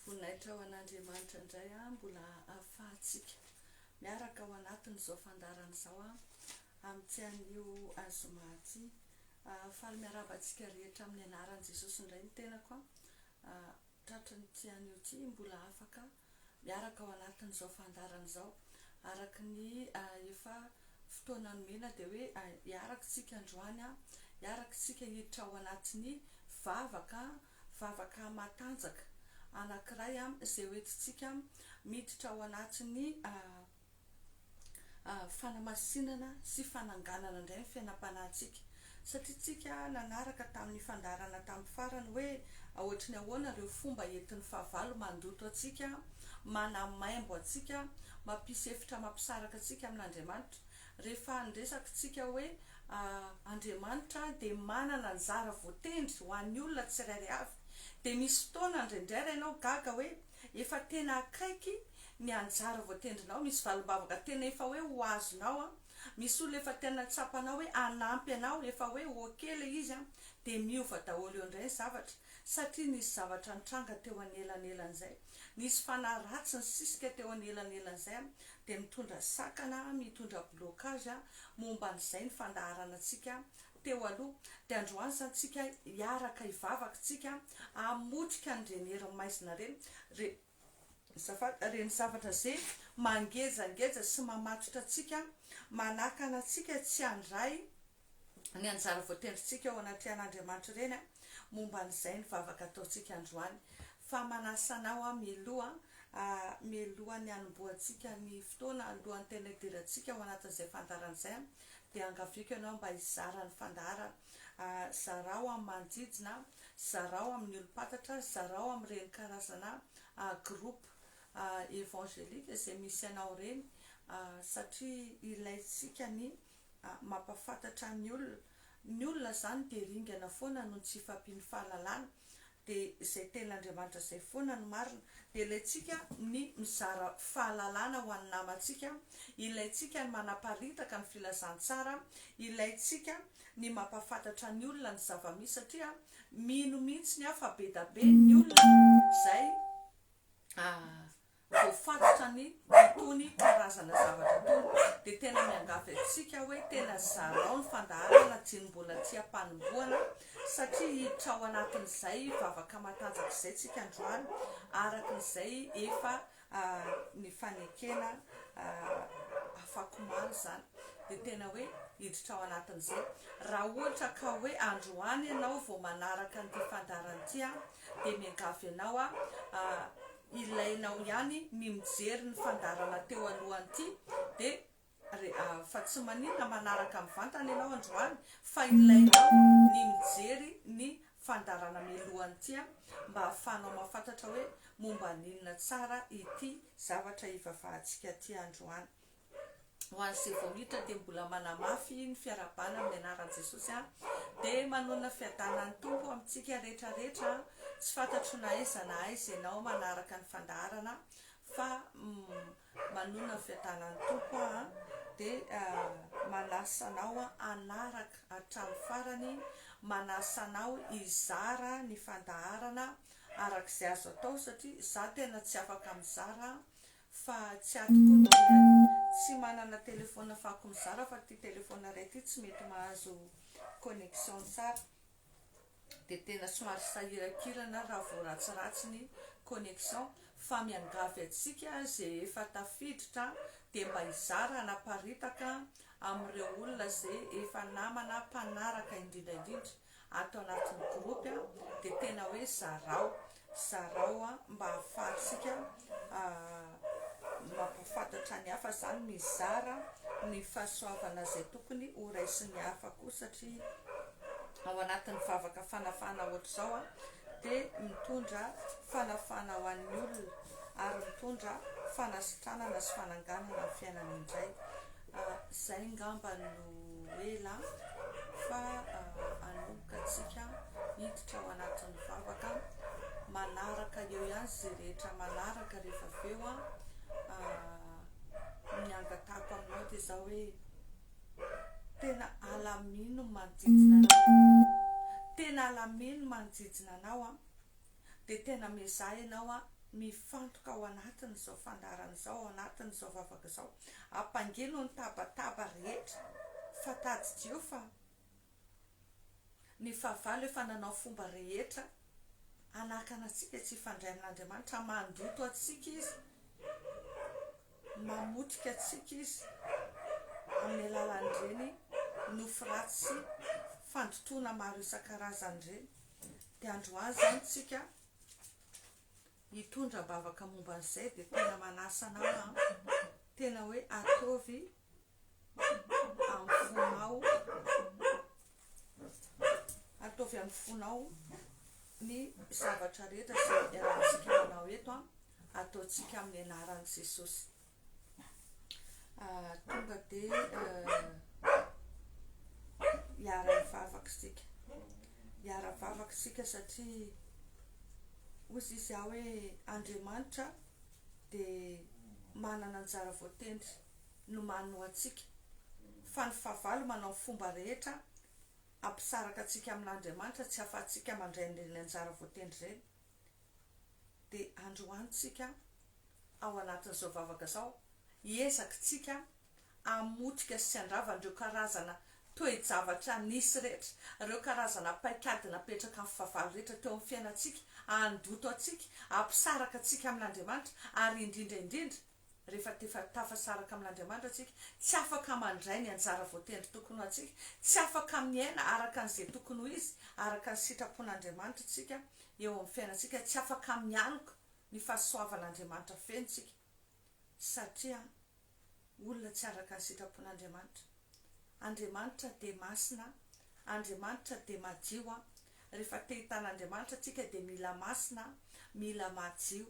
Voninahitra ho an'Andriamanitra indray a, mbola ahafahantsika miaraka ao anatin'izao fandarana izao a, amin'ity anio azoma ity. Ah, faly miarahaba antsika rehetra amin'ny anaran'i Jesosy indray ny tenako a. Ah, tratry ny ity anio ity mbola afaka miaraka ao anatin'izao fandaharana izao. Araka ny efa fotoana nomena dia hoe hiaraka isika androany, hiaraka isika hiditra ao anatin'ny vavaka, vavaka matanjaka anankiray izay hoentintsika miditra ao anatin'ny fanamasinana sy fananganana indray ny fiainam-panahintsika, satria tsika nanaraka tamin'ny fandaharana tamin'ny farany hoe aohatry ny ahoana ireo fomba entin'ny fahavalo mandoto antsika, manamaimbo antsika, mampisy efitra mampisaraka antsika amin'Andriamanitra. Rehefa niresaka tsika hoe Andriamanitra dia manana anjara voatendry ho an'ny olona tsirairay avy, dia misy fotoana indraindray raha ianao gaga hoe. Efa tena akaiky ny anjara voatendrinao, misy valimbavaka tena efa hoe ho azonao an, misy olona efa tena tsapanao hoe hanampy anao, efa hoe ok ilay izy an, dia miova daholo eo indray ny zavatra, satria nisy zavatra nitranga teo anelanelan'izay, nisy fanahy ratsy nisisika teo anelanelan'izay an, dia mitondra sakana, mitondra blocage momba an'izay ny fandaharanantsika teo aloha, dia androany izany tsika hiaraka hivavaka tsika hamotika an'ireny hery maizina ireny, re, zafady, ireny zavatra ze mangejangeja sy mamatotra antsika, manakana antsika tsy handray ny anjara voatendrintsika eo anatrehan'Andriamanitra ireny an, momba an'izay ny vavaka ataontsika androany, fa manasa anao aho mialoha, a, mialohan'ny hanombohantsika ny fotoana, alohan'ny tena hidirantsika ao anatin'izay fandaharana izay an, dia angaviako ianao mba hizara ny fandaharana. Zarao amin'ny manodidina, zarao amin'ny olom-pantatra, zarao amin'ireny karazana groupe evangelique izay misy anao ireny satria ilaintsika ny mampahafantatra ny olona. Ny olona izany dia ringana foana noho ny tsy fampian'ny fahalalana de izay teny Andriamanitra izay foana no marina, de ilaintsika ny mizara fahalalana ho an'ny namantsika, ilaintsika ny manaparitaka ny filazantsara, ilaintsika ny mampafantatra ny olona ny zavamisy satria mino mintsiny aho fa bedabe ny olona izay vao fantatra ny itony karazana zavatra tony dia tena miangavy antsika hoe tena zarao ny fandaharana na jino mbola tsy ampanombohana satria hiditra ao anatin'izay vavaka matanjaka izay tsika androany araka izay efa nifanekena afakomaly izany dia tena hoe hiditra ao anatin'izay raha ohatra ka hoe androany ianao vao manaraka an'ity fandaharana ity dia miangavy ianao a Ilainao ihany ny mijery ny fandaharana teo alohan'ity de re a fa tsy maninona manaraka mivantana ianao androany fa ilainao ny mijery ny fandaharana milohan'ity a mba ahafahanao mafantatra hoe momba an'inona tsara ity zavatra hivavahantsika ity androany. ho an'izay vao miditra dia mbola manamafy ny fiarahabana amin'ny anaran'i Jesosy aho dia manonona fiadanan'ny Tompo amintsika rehetra rehetra tsy fantatro na aiza na aiza ianao manaraka ny fandaharana fa manonona ny fiadanan'ny Tompo aho dia manasa anao hanaraka hatramin'ny farany manasa anao hizara ny fandaharana arak'izay azo atao satria za tena tsy afaka mizara Fa tsy ato koa no ilay tsy manana telephone fako mizara fa ty telephone iray ty tsy mety mahazo connexion tsara dia tena somary sahirankirana raha vao ratsiratsy ny connexion fa miangavy antsika ze efa tafiditra dia mba hizara hanaparitaka amin'ireo olona ze efa namana mpanaraka indrindra indrindra ato anatin'ny groupe a, dia tena hoe zarao, zarao a, mba ahafahantsika mampahafantatra ny hafa izany, mizara ny fahasoavana izay tokony ho raisin'ny hafa koa, satria ao anatin'ny vavaka fanafahana ohatr'izao a, dia mitondra fanafahana ho an'ny olona, ary mitondra fanasitranana sy fananganana ny fiainany indray, Izay ngamba no ela fa anomboka tsika hiditra ao anatin'ny vavaka manaraka eo ihany izay rehetra manaraka rehefa avy eo an ny angatahako aminao dia izao hoe tena alamino manodidina anao tena alamino manodidina anao an Dia tena miezaha ianao an, mifantoka ao anatin'izao fandaharana izao, ao anatin'izao vavaka izao. Ampangino ny tabataba rehetra, fa tadidio fa ny fahavalo efa nanao fomba rehetra hanakana antsika tsy hifandray amin'Andriamanitra, mandoto antsika izy, mamotika antsika izy amin'ny alalan'ireny nofy ratsy sy fandotoana maro isan-karazany ireny. Dia androany izany tsika hitondra am-bavaka momba an'izay dia tena manasa anao an, tena hoe ataovy amin'ny fonao, ataovy amin'ny fonao ny zavatra rehetra izay iarahantsika manao eto an, ataontsika amin'ny anaran'i Jesosy. tonga dia hiara-hivavaka isika hiara-vavaka isika satria hoy izy izy aho hoe Andriamanitra dia manana anjara voatendry nomany ho antsika fa ny fahavalo manao ny fomba rehetra hampisaraka antsika amin'Andriamanitra tsy afa-tsika mandray ireny anjara voatendry ireny dia androany tsika ao anatin'izao vavaka izao hiezaky tsika hamotika sy handrava an'ireo karazana toe-javatra nisy rehetra, ireo karazana paikady napetraka amin'ny fahavalo rehetra teo amin'ny fiainantsika, handoto antsika, hampisaraka antsika amin'Andriamanitra ary indrindra indrindra, rehefa tefa tafasaraka amin'Andriamanitra antsika, tsy afaka mandray ny anjara voatendry tokony ho antsika, tsy afaka miaina araka an'izay tokony ho izy, araka ny sitrapon'Andriamanitra isika eo amin'ny fiainantsika, tsy afaka mialoka ny fahasoavan'Andriamanitra feno isika, satria olona tsy araka ny sitrapon'Andriamanitra. Andriamanitra dia masina, Andriamanitra dia madio, rehefa te-hitan'Andriamanitra antsika dia mila masina, mila madio.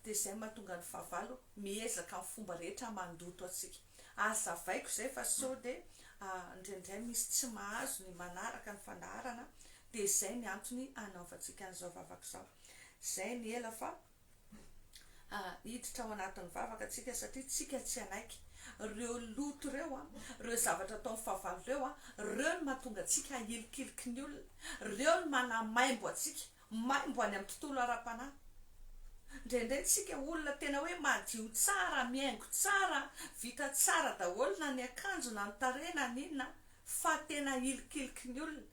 Dia izay no mahatonga ny fahavalo miezaka amin'ny fomba rehetra mandoto antsika. Hazavaiko izay fa sao dia indraindray misy tsy mahazo ny manaraka ny fandaharana dia izay ny antony anaovantsika an'izao vavaka izao. Izay ny ela fa hiditra ao anatin'ny vavaka tsika satria tsika tsy hanaiky. Ireo loto ireo, ireo zavatra ataon'ny fahavalo ireo, ireo no mahatonga antsika hilikiliky ny olona, ireo no manamaimbo antsika Maimbo any amin'ny tontolo ara-panahy. Indraindray tsika olona tena hoe madio tsara, mihaingo tsara, vita tsara daholo na ny akanjo na ny tarehy na ny inona fa tena ilikiliky ny olona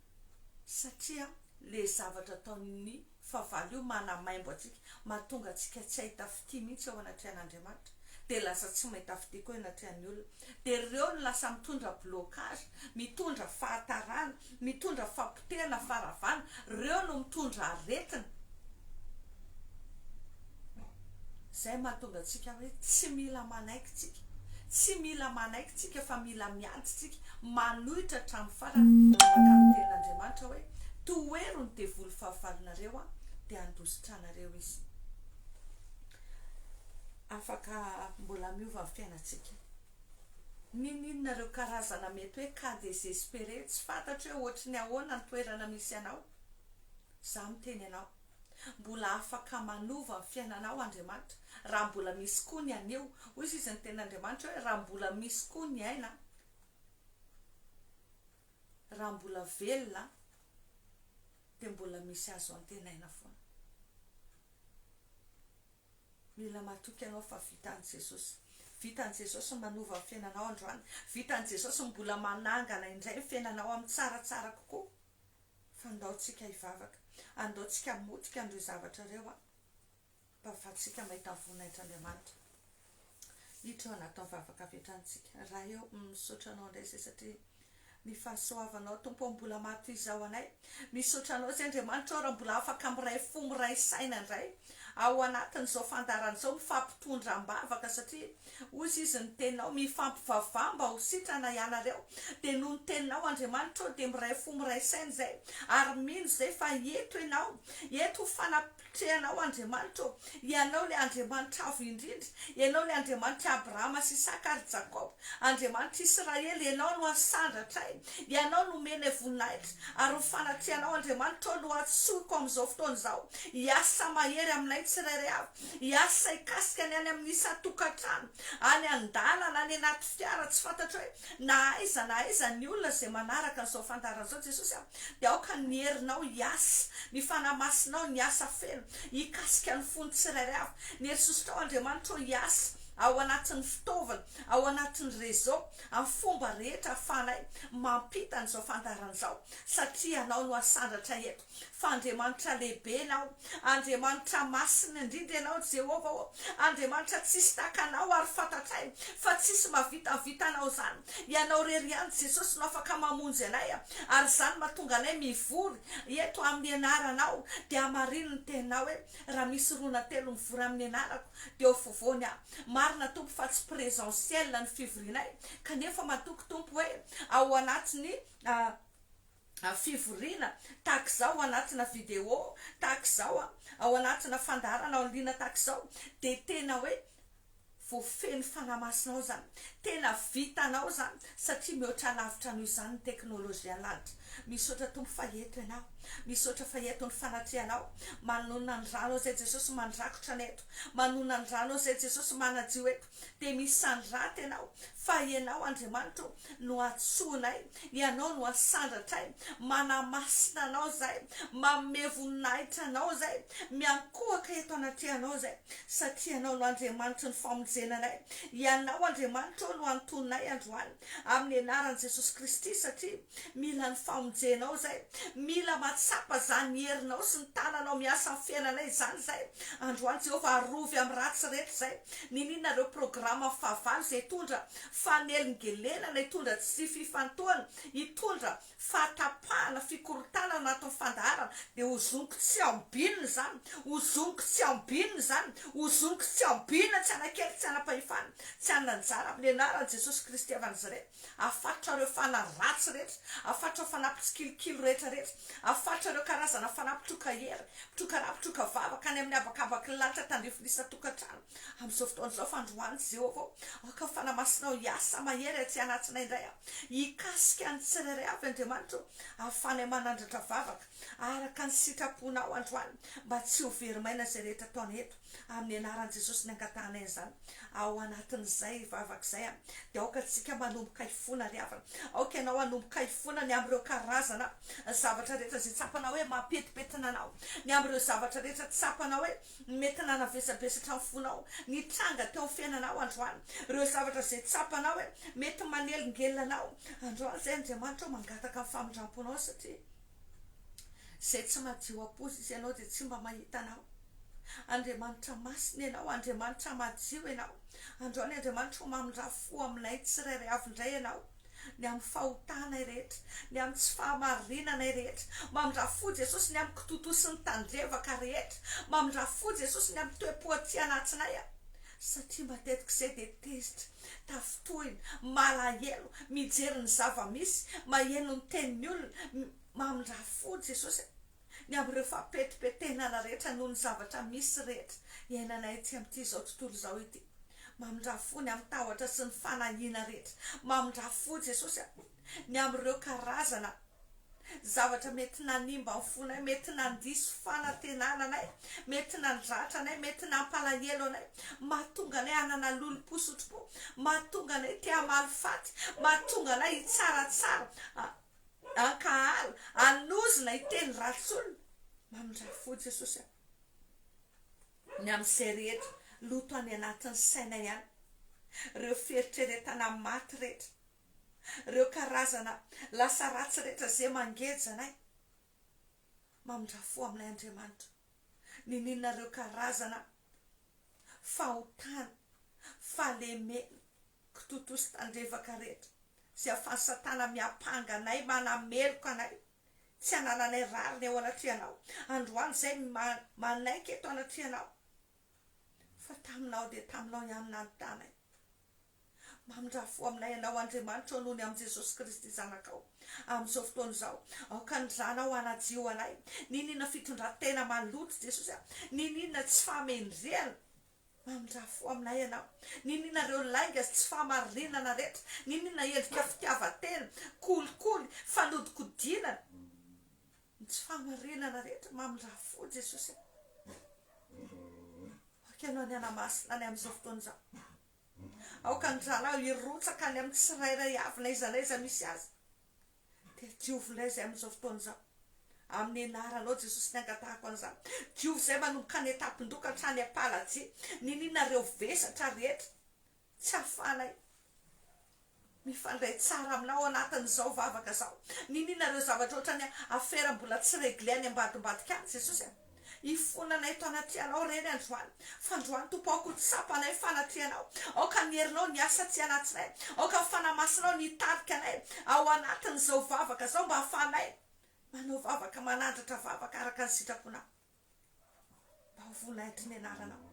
satria ilay zavatra ataon'ny fahavalo io manamaimbo antsika, mahatonga antsika tsy hahita fitia mihitsy eo anatrehan'Andriamanitra dia lasa tsy mahita fitia koa eo anatrehan'ny olona. Dia ireo no lasa mitondra blocage, mitondra fahatarana, Mitondra fahapotehana fa ravana reo no mitondra aretina zay mahatonga tsika hoe tsy mila manaiky tsika tsy mila manaiky tsika fa mila miady tsika manohitra hatramin'ny farany araka ny tenin'Andriamanitra hoe tohero ny devoly fahavalonareo aho dia handositranareo izy afaka mbola miova ny fiainantsika Niniana ireo karazana mety hoe cas desespere tsy fantatro hoe ohatry ny ahoana ny toerana misy anao. Za miteny anao. Mbola afaka manova ny fiainanao Andriamanitra raha mbola misy koa ny anio. Hoy sisa ny tenin'Andriamanitra hoe raha mbola misy koa ny aina, raha mbola velona dia mbola misy azo antenaina foana. Mila matoky anao fa vitan'i Jesosy. Vitan'i Jesosy ny manova ny fiainanao androany. Vitan'i Jesosy ny mbola manangana indray ny fiainanao amin'ny tsaratsara kokoa. Fa ndao tsika hivavaka. Andao tsika hamotika an'ireo zavatra ireo an. Mba afahantsika mahita ny voninahitr'Andriamanitra. Hitrona atao vavaka avy hatrany tsika Ray eo misaotra anao indray zay satria ny fahasoavanao Tompo ô mbola maha toy izao anay misaotra anao zay Andriamanitra ô raha mbola afaka miray fo miray saina indray aho ao anatin'izao fandaharana izao mifampitondra ambavaka satria hozy izy ny teninao mifampivavaha mba ho sitrana ianareo dia noho ny teninao Andriamanitra ô dia miray fo miray saina izay ary mino izay fa eto ianao eto ho fanampi Tsy Ianao Andriamanitra ô! Ianao ilay Andriamanitra Avo Indrindra, Ianao ilay Andriamanitr'i Abrahama sy Isaka ary Jakoba, Andriamanitr'i Israely, Ianao no asandratra ahy, Ianao no omenay voninahitra, ary ny fanatrehanao Andriamanitra ô no antsoiko amin'izao fotoana izao, hiasa mahery aminay tsirairay avy, hiasa hikasika ny any amin'ny isan-tokantrano, any an-dalana, any anaty fiara, tsy fantatro hoe na aiza na aiza ny olona izay manaraka an'izao fandaharana izao Jesosy a, Dia aoka ny herinao hiasa, ny Fanahy Masinao ny hiasa feno, hikasika ny fon'ny tsirairay avy. Ny herisosotrao Andriamanitra ô hiasa ao anatin'ny fitaovana, ao anatin'ny réseau, amin'ny fomba rehetra ahafahanay mampita an'izao fandaharana izao, satria Ianao no asandratra eto. Fa Andriamanitra lehibe Ianao, Andriamanitra masina indrindra Ianao, ry Jehovah ô! Andriamanitra tsisy tahaka Anao, ary fantatray fa tsisy mahavita ny vitanao izany. Ianao irery ihany, Jesosy, no afaka mamonjy anay, ary izany no mahatonga anay mivory eto amin'ny Anaranao. Dia hamarino ny Teninao hoe, Raha misy roa na telo mivory amin'ny Anarako, dia ho afovoany Aho. Marina, Tompo, fa tsy présentiel ny fivorianay, kanefa matoky, Tompo, hoe ao anatin'ny. fivoriana tahaka izao ao anatina video tahaka izao a, ao anatina fandaharana en ligne tahaka izao dia tena hoe voafehin'ny Fanahy Masinao izany, tena vitanao izany satria mihoatra lavitra noho izany ny teknolojian'ny lanitra. Misaotra Tompo fa eto Ianao, misaotra fa eto ny fanatrehanao, manonona ny Ranao izay Jesosy mandrakotra ny eto, manonona ny Ranao izay Jesosy manadio eto. dia misanr aty ianao fa ianao Andriamanitra o no antsoinay, ianao no asandratray, manamasina anao izahay, manome voninahitra anao izahay, miankohoka eto anatrehanao izahay satria ianao no Andriamanitry ny famonjena anay, ianao Andriamanitra o no antononay androany amin'ny anaran'i Jesosy Kristy satria Mila ny famonjenao zay. Mila mahatsapa zany ny herinao sy ny tananao miasa am fiainanay izany zay. Androany Jehovah arovy am ratsy rehetra izay. Niniana ireo programam fahavalo izay hitondra fanelingelenana, hitondra tsy fifantohana, hitondra fahatapahana, fikorontanana anatin'ny fandaharana. Dia hozoniko tsy ambinina izany. Hozoniko tsy ambinina izany. Hozoniko tsy ambinina tsy anakely tsy anapahefana. Tsy hanana anjara amin ny anaran Jesosy Kristy havan'izy ireny. Afatotra ireo fanahy ratsy rehetra, afatotra ireo fanahy mpitsikilikily rehetra rehetra, afatotra ireo karazana fanahy mpitroka hery, mpitroka ra, mpitroka vava, hankany amin'ny habakabak'i ny lanitra tandrify ny isan-tokantrano, amin'izao fotoana izao fa androany Jehovah ô, aoka ny fanahy masinao hiasa mahery atsy anatsinay indray aho, hikasika ny tsirairay avy Andriamanitra ô, ahafahanay manandratra vavaka araka ny sitraponao androany mba tsy ho very maina izay rehetra ataonay eto. Amin'ny anaran'i Jesosy ny angatahanay izany ao anatin'izay vavaka izay a! Dia aoka tsika manomboka hifona ry havana, aoka ianao hanomboka hifona ny amin'ireo karazana zavatra rehetra izay tsapanao hoe mampetipetina anao, ny amin'ireo zavatra rehetra tsapanao hoe mety nanavesabesatra ny fonao, nitranga teo amin'ny fiainanao androany, ireo zavatra izay tsapanao hoe mety manelingelina anao androany izay, Andriamanitra ô mangataka ny famindramponao satria. Izay tsy madio am-poza izy ianao dia tsy mba mahita anao. Andriamanitra masina ianao, Andriamanitra madio ianao. Andao ny Andriamanitra ho mamindrà fo aminay tsirairay avy indray ianao, ny amin'ny fahotanay rehetra, ny amin'ny tsy fahamarinanay rehetra. Mamindrà fo Jesosy ny amin'ny kitotosin'ny tandrevaka rehetra. Mamindrà fo Jesosy ny amin'ny toe-po aty anatinayan, satria matetika izay dia tezitra Tafintohina, malahelo, mijery ny zava-misy, maheno ny tenin'ny olona, mamindrà fo Jesosy a! Ny amin'ireo fampetipetenana rehetra noho ny zavatra misy rehetra iainanay ety amin'ity izao tontolo izao ity. Mamindrà fo ny amin'ny tahotra sy ny fanahiana rehetra. Mamindrà fo Jesosy a! ny amin'ireo karazana zavatra mety nanimba ny fonay, mety nandiso fanantenana anay, mety nandratra anay, mety nampalahelo anay, mahatonga anay hanana lolompo sy otrompo, mahatonga anay te hamaly faty, mahatonga anay hitsaratsara, hankahala, hanozona, hiteny ratsy olona. Mamindrafo fo Jesosy a! Ny amin'izay rehetra loto any anatin'ny sainay any, ireo fieritreretana maty rehetra, reo karazana lasa ratsy rehetra ze mangeja anay mamindra fo aminay Andriamanitra nininona reo karazana fahotana fahalemena kitotosa tandrevaka rehetra ze afan'i satana miampanga anay manameloka anay tsy anananay rariny eo anatrehanao androany zay manaiky eto anatrehanao Fa taminao dia taminao ihany nanontanay. Mamindrà fo aminay ianao, Andriamanitra, ao noho ny amin'i Jesosy Kristy Zanakao. Amin'izao fotoana izao, aoka ny Zanao hanadio anay. Niniana fitondran-tena maloto, Jesosy a! Niniana tsy fahamendrehana. Mamindrà fo aminay ianao. Niniana ireo lainga sy tsy fahamarinana rehetra. Niniana endrika fitiavan-tena, kolikoly, fanodinkodinana. Ny tsy fahamarinana rehetra mamindraha fo Jesosy a! Aoka Ianao ny hanamasina any amin'izao fotoana izao. Aoka ny rahalahy ho hirotsaka any amin'ny tsirairay avy na iza na iza misy azy. Dia diovy indray izay amin'izao fotoana izao. Amin'ny anaranao Jesosy ny angatahako an'izany. Diovy izay manomboka any an-tampon-doha ka hatrany am-paladia. Niniana ireo vesatra rehetra. Tsy ahafahanay mifandray tsara aminao ao anatin'izao vavaka izao. Niniana ireo zavatra ohatran'ny afera mbola tsy regle any ambadimbadika any, Jesosy a. Hifona anay eto anatrehanao ireny androany. Fa androany, Tompo, aoka ho tsapa anay fanatrehanao. Aoka ny herinao ny asa aty anatinay. Aoka ny Fanahy Masinao ny hitarika anay ao anatin'izao vavaka izao mba hahafahanay manao vavaka, manandratra vavaka araka ny sitraponao. Mba ho voninahitry ny Anaranao.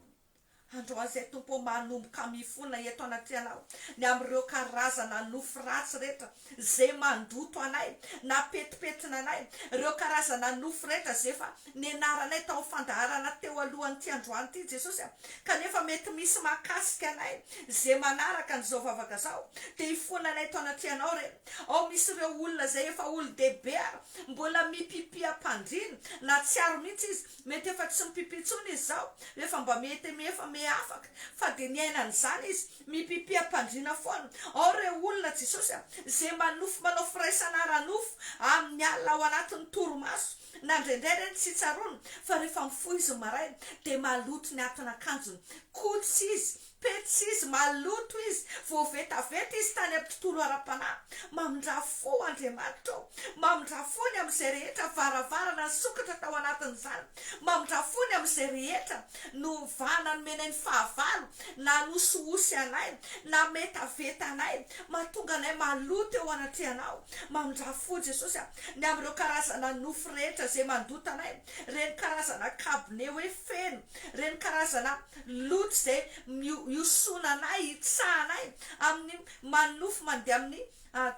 Androany izay, Tompo ô, manomboka mifona eto anatrehanao ny amin'ireo karazana nofy ratsy rehetra izay mandoto anay, nampetipetina anay, ireo karazana nofy rehetra izay efa nianaranay tao amin'ny fandaharana teo alohan'ity androany ity, Jesosy a. Kanefa mety misy mahakasika anay izay manaraka an'izao vavaka izao, dia hifona anay eto anatrehanao ireny. Ao misy ireo olona izay efa olon-dehibe ary Mbola mipipi am-pandriana. Nahatsiaro mihitsy izy. Mety efa tsy mipipi intsony izy izao, efa mba mihetemia, efa mihafaka. Fa dia niaina an'izany izy. Mipipi am-pandriana foana. Ao re olona, Jesosy a! izay manofy manao firaisana ara-nofo amin'ny alina ao anatin'ny torimaso. Na indraindray re ny tsy tsaroany fa rehefa mifoha izy ny maraina dia maloto ny atin'akanjony. Koa tsy izy Petsy izy, maloto izy, voavetaveta izy tany amin'ny tontolo ara-panahy. Mamindrà fo, Andriamanitra ô! Mamindrà fo ny amin'izay rehetra varavarana nisokatra tao anatin'izany. Mamindrà fo ny amin'izay rehetra novahana nomena ny fahavalo, nanosihosy anay, nametaveta anay, mahatonga anay maloto eo anatrehanao. Mamindrà fo, Jesosy a! ny amin'ireo karazana nofy rehetra izay mandota anay, ireny karazana kabone hoe feno, ireny karazana. Loto izay miosona anay, hitsahanay, amin'ny manofy mandeha amin'ny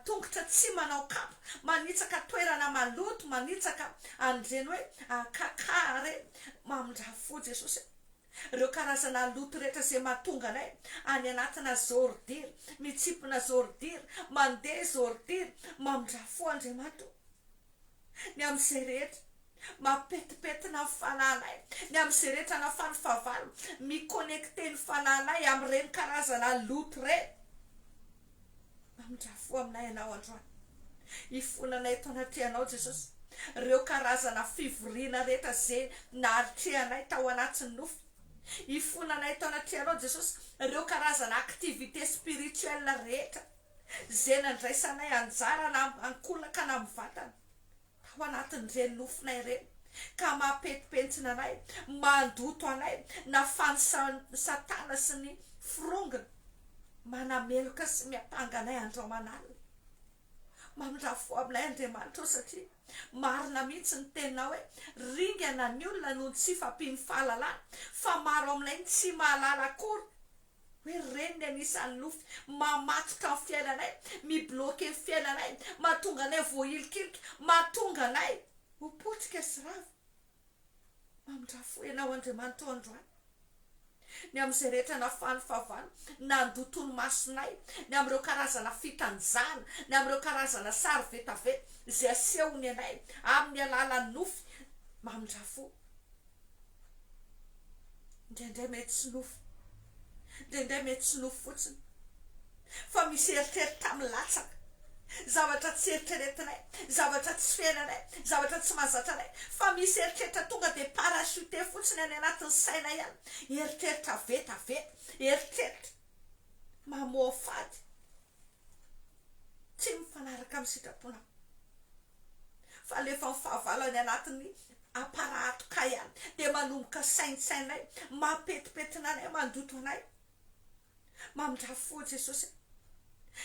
tongotra tsy manao kapa, manitsaka toerana maloto, manitsaka an'ireny hoe kaka ireny. Mamindrafo fo Jesosy e! Ireo karazana loto rehetra izay mahatonga anay any anatina zôrdiry, mitsimpona zôrdiry, mandeha zôrdiry, mamindrafo fo Andriamatoa. Ny amin'izay rehetra mapetipety na ny fanahinay, ny amin'izay rehetra na fa ny fahavalo, mi-connecter ny fanahinay amin'ireny karazana loto ireny. Mamindrà fo aminay Ianao androany. Hifona anay eto anatrehanao Jesosy, ireo karazana fivoriana rehetra izay nahatrehanay tao anatin'ny nofy. Hifona anay eto anatrehanao Jesosy, ireo karazana activités spirituelles rehetra. izay nandraisanay anjara na amin'ny ankolaka na amin'ny vatana, tao anatin'ireny nofona ireny, ka mampentipentina anay, mandoto anay, na fanisain'i Satana sy ny firongony manameloka sy miampanga anay andro aman'alina. Mamindrafo aminay Andriamanitra ô, satria marina mihitsy ny teninao hoe, Ringana ny olona noho ny tsy fampian'ny fahalalana, fa maro aminay ny tsy mahalala akory Hoe ry reniny anisan'ny nofy mamatotra ny fiainanay, mi-bloquer ny fiainanay, mahatonga anay voahilikilika, mahatonga anay ho potika sy rava. Mamindrà fo Ianao Andriamanitra ô androany, ny amin'izay rehetra nafahan'ny fahavalo nandoto ny masonay, ny amin'ireo karazana fitanjahana, ny amin'ireo karazana sary vetaveta izay asehony anay amin'ny alalan'ny nofy, mamindrà fo. Indraindray mety tsy nofy, indraindray mety tsy nofy fotsiny fa misy eritreritra milatsaka, zavatra tsy eritreretinay, zavatra tsy fenanay, zavatra tsy mahazatra anay fa misy eritreritra tonga dia parachuter fotsiny any anatin'ny sainay any, eritreritra vetaveta, eritreritra mamoafady tsy mifanaraka amin'ny sitraponao. fa alefa ny fahavalany anatiny aparato kay a de manomboka saintsainay mampetipetina anay mandoto anay mamindrafo foa jesosy a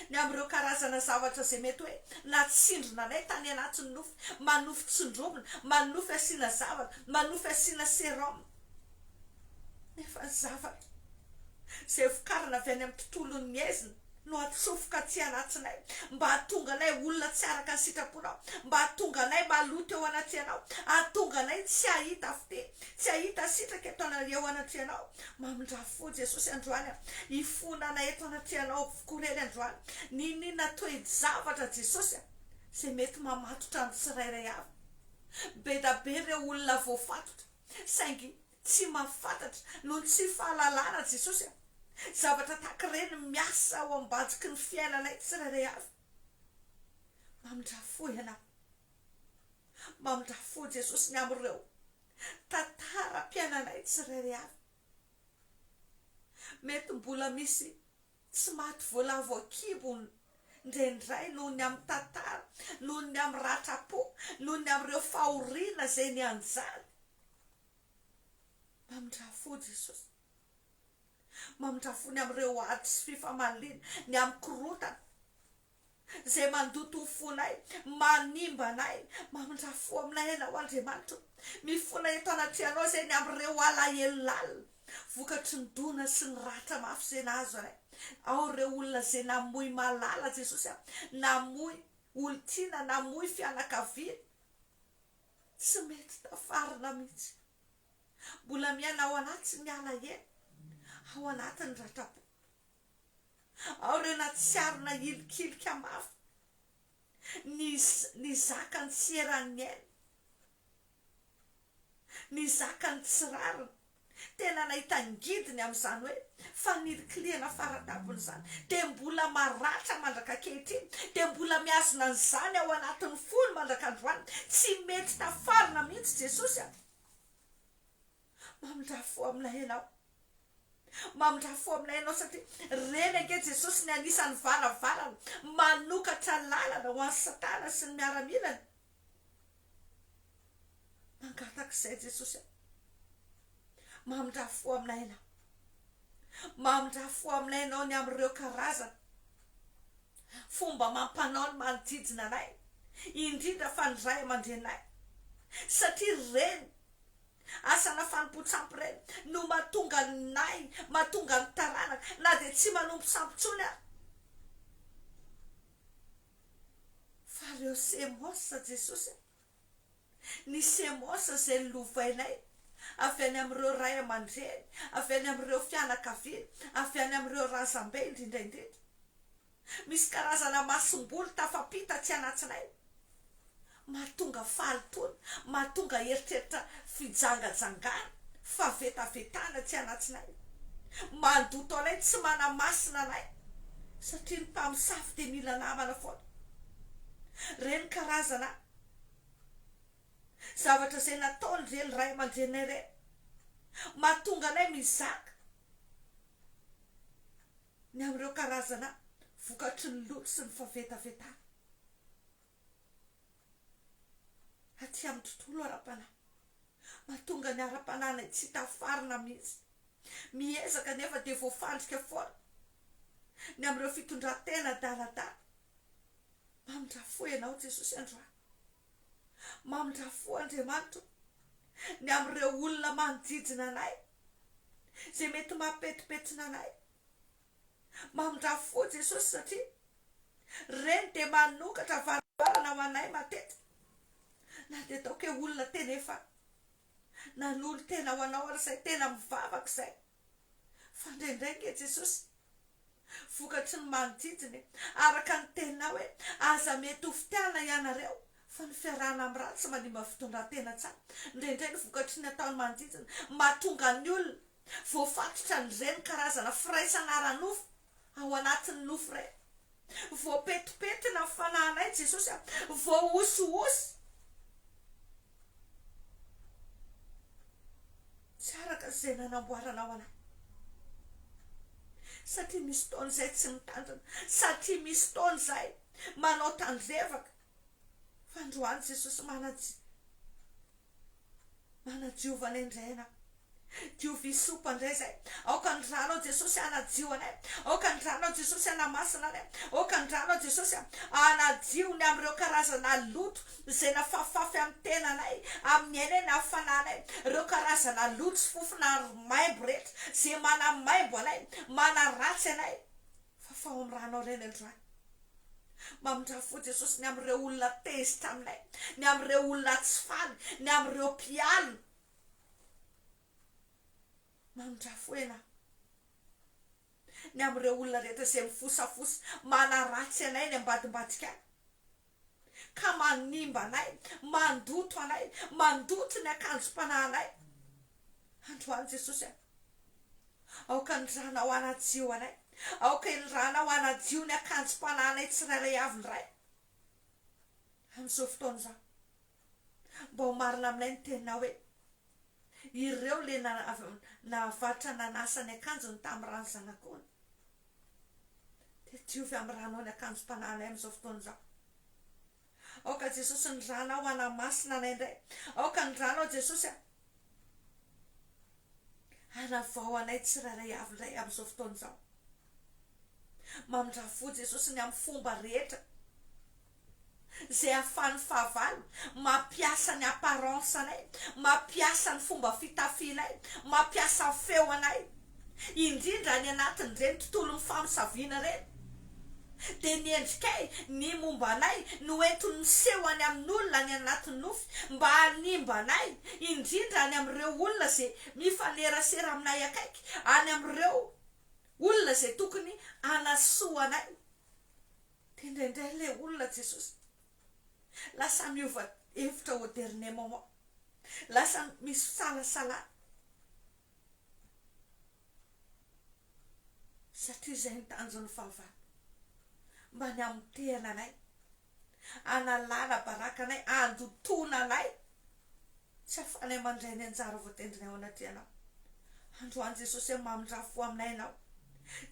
ny amin'ireo karazana zavatra izay mety hoe natsindrona anay tany anatin'ny nofy manofy tsindromina manofy asiana zavatra manofy asiana serum nefa ny zavatra izay vokarina avy any amin'ny tontolon'ny aizina no atsofoka aty anatsinay mba hahatonga anay olona tsy araka ny sitraponao, mba hahatonga anay maloto eo anaty anao, hahatonga anay tsy hahita fite, tsy hahita sitraka eto ana eo anatry anao, mamindra fo Jesosy androany a, hifona anay eto anatry anao avokoa rery androany, niniana toe-javatra Jesosy a, zay mety mamatotra ny tsirairay avy, be da be reo olona voafatotra, saingy Tsy mahafantatra noho ny tsy fahalalana Jesosy a! Zavatra tahaka ireny miasa ao am-bajiky ny fiainanay tsirairay avy. Mamindrà fo Ianao. Mamindrà fo Jesosy ny amin'ireo tantaram-piainanay tsirairay avy. Mety mbola misy Tsy maty voalavo an-kibo indraindray noho ny amin'ny tantara, noho ny amin'ny ratram-po, noho ny amin'ireo fahoriana izay nianjany. Mamindrà fo Jesosy. Mamindrà fo ny amin'ireo ady sy fifamaliana, ny amin'ny korontana. Izay mandoto ho fonay, manimba anay, mamindrà fo aminay Ianao, Andriamanitra ô! Mifona eto anatrehanao izay ny amin'ireo alahelo lalina, vokatry ny dona sy ny ratra mafy izay nahazo anay. Ao ireo olona izay namoy malala, Jesosy a! Namoy olon-tiana, namoy fianakaviana, tsy mety tafarina mihitsy. Mbola miaina ao anatin'ny alahelo, ao anatin'ny ratra-po. Ao ireo natsiarona hilikilika mafy ny ny zakany tsy eran'ny miaina, ny zakany tsy rariny. Tena nahita ngidiny amin'izany hoe fanilikilihana fara-tampony izany. Dia mbola maratra mandrak'ankehitriny, dia mbola mihazona an'izany ao anatin'ny fony mandrak'androany. Tsy mety tafarina mihitsy Jesosy a! Mamindrà fo aminay Ianao. Mamindrà fo aminay Ianao satria Reny ange Jesosy ny anisan'ny varavarana manokatra lalana ho an'i Satana sy ny miaramilany. Mangataka izay Jesosy a. Mamindrà fo aminay Ianao. Mamindrà fo aminay Ianao ny amin'ireo karazana fomba amam-panao ny manodidina anay, indrindra fa ny ray aman-dreninay satria Reny Asana fanompoan-tsampy reny no mahatonga ny nahy, mahatonga ny taranaka na dia tsy manompo sampy intsony ary. Fa ireo Semos Jesosy a! Ny Semos izay lovainay avy any amin'ireo ray aman-dreny, avy any amin'ireo fianakaviana, avy any amin'ireo razambe indrindra indrindra. Misy karazana masomboly tafampita tsy anatsinay mahatonga fahalotoana, mahatonga eritreritra fijangajangana, fahavetavetana tsy anatsinay, mandoto anay, tsy manamasina anay satria ny mpamosavy dia mila namana foana. Ireny karazana zavatra izay nataon'ireny ray aman-dreninay ireny mahatonga anay mizaka. ny amin'ireo karazana vokatry ny lolo sy ny fahavetavetana aty amin'ny tontolo ara-panahy. Mahatonga ny ara-panahinay tsy hita farana mihitsy. Miezaka nefa dia voafandrika foana ny amin'ireo fitondran-tena adaladala. Mamindrafo Ianao Jesosy androany. Mamindrà fo Andriamanitra ny amin'ireo olona manodidina anay, izay mety mampetipetina anay. Mamindrà fo Jesosy satria Reny dia manokatra varavarana ho anay matetika, na dia ataoko hoe olona tena efa nanolo-tena ho Anao ary izay tena mivavaka izay. Fa indraindray ange Jesosy vokatry ny manodidina e! Araka ny teninao hoe aza mety ho fitiavana ianareo fa ny fiarahana amin'ny ratsy manimba fitondran-tena tsara. Indraindray ny vokatry ny ataon'ny manodidina mahatonga ny olona voafatotra an'ireny karazana firaisana ara-nofo. Ao anatin'ny nofo iray. Voapetipetina ny fanahinay Jesosy a. Voahosihosy. Tsy araka izay nanamboaranao anay. Satria misy fotoana izay tsy mitandrina. Satria misy fotoana izay manao tandrevaka. Fa androany Jesosy manaji- manajiova anay indray ianao. Diovy sopa ndray zay. Aoka ny ranao Jesosy hanadio anay. Aoka ny ranao Jesosy hanamasina anay. Aoka ny ranao Jesosy a. Hanadio ny amin'ireo karazana loto izay nafafafy amin'ny tenanay, amin'ny ainay na fananay. Ireo karazana loto sy fofona aro maimbo rehetra izay manamaimbo anay, manaratsy anay. Fafaho amin'ny ranao ireny androany. Mamindra fo Jesosy ny amin'ireo olona tezitra aminay, ny amin'ireo olona tsy faly, ny amin'ireo mpialona. Mandrafoena ny amin'ireo olona rehetra izay mifosafosa manaratsy anay eny ambadimbadika any, ka manimba anay, mandoto anay, mandoto ny akanjom-panahinay. Androany Jesosy a! Aoka ny Ranao hanadio anay, aoka iny Ranao hanadio ny akanjom-panahinay tsirairay avy ny Ray, amin'izao fotoana izao. Mba ho marina aminay ny teninao hoe, Ireo ilay nahavatra nanasa ny akanjony tamin'ny ran'ny zanak'ony. Dia diovy amin'ny ranao ny akanjom-panahinay amin'izao fotoana izao. Aoka Jesosy ny ranao hanamasina anay indray. Aoka ny ranao Jesosy Hanavao anay tsirairay avy Ray amin'izao fotoana izao. Mamindrafo fo Jesosy ny amin'ny fomba rehetra izay ahafahan'ny fahavalo mampiasa ny apparence anay, mampiasa ny fomba fitafianay, mampiasa ny feo anay. indrindra any anatin'ireny tontolon'ny famosaviana ireny, dia ny endrikay, ny momba anay no entiny miseho any amin'olona any anatin'ny nofy mba hanimba anay, indrindra any amin'ireo olona izay mifanerasera aminay akaiky, any amin'ireo olona izay tokony hanasoa anay. Dia indraindray ilay olona Jesosy lasa miova hevitra au dernier moment, lasa misy fisalasalana. Satria izay no tanjon'ny fahavalo, mba ny hamotehana anay, hanalana baraka anay, handotoana anay, tsy ahafahanay mandray ny anjara voatendrinay ao anatrehanao. Androany Jesosy a, mamindrà fo aminay ianao.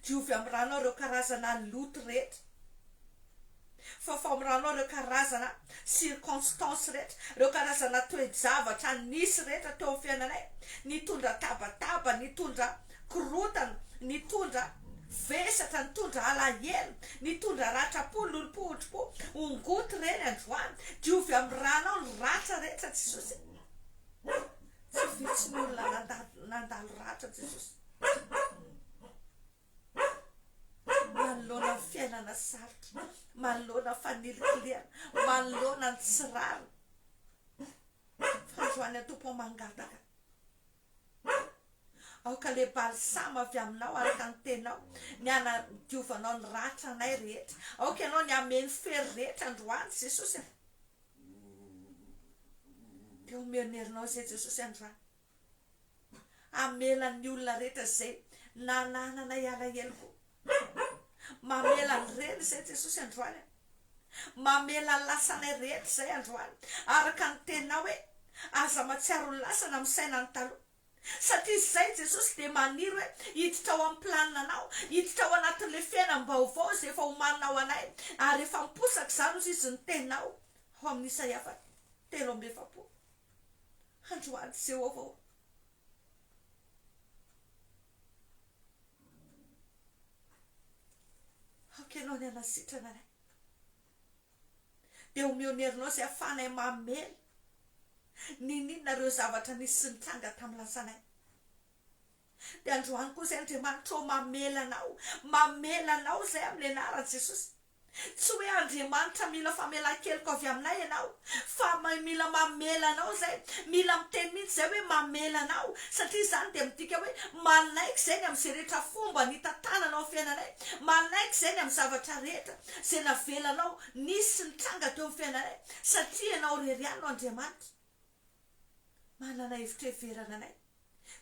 Diovy amin'ny ranao ireo karazana loto rehetra. fa famoranao ireo karazana circonstances rehetra, ireo karazana toe-javatra nisy rehetra teo amin'ny fiainanay, nitondra tabataba, nitondra korontana, nitondra vesatra, nitondra alahelo, nitondra ratram-po, lolompohondrom-po, hongoty ireny androany, diovy amin'ny ranao ny ratra rehetra Jesosy e, tsy vitsy ny olona nandalo ratra Jesosy. manoloana ny fiainana sarotra, manoloana fanilikilihana, manoloana ny tsy rariny. Androany ny Tompo mangataka. Aoka le balsama avy aminao araka ny tenao ny hanadiovanao ny ratra anay rehetra. Aoka ianao ny hameno fery rehetra androany Jesosy a. Dia omeo ny herinao izay Jesosy androany. Hamela ny olona rehetra izay nanahananay alahelo koa. Mamela ny reny izay Jesosy androany an. Mamela ny lasanay rehetra izay androany araka ny teninao hoe aza matsiaro ny lasa na misaina ny taloha. Satria izay Jesosy dia maniry hoe hiditra ao amin'ny planinanao, hiditra ao anatin'ilay fiainam-baovao izay efa omaninao anay ary efa miposaka izany hoy izy ny teninao ao amin'ny Isaia fahatelo amby efapolo. Androany sy eo avao. Aoka ianao ny hanasitrana anay. Dia omeo ny herinao izay ahafahanay mamely ny nina ireo zavatra nisy sy nitranga tamin'ny lasanay. Dia androany koa izay Andriamanitra ô mamela anao, mamela anao izay amin'ny anaran'i Jesosy. Tsy hoe Andriamanitra mila famelan-keloka avy aminay ianao, fa mila mamela anao izay. Mila miteny mihitsy izay hoe mamela anao, satria izany dia midika hoe manaiky izay ny amin'izay rehetra fomba nitantananao ny fiainanay, manaiky izay ny amin'ny zavatra rehetra izay navelanao nisy sy nitranga teo amin'ny fiainanay, satria ianao irery ihany no Andriamanitra manana hevitra hiheverana anay,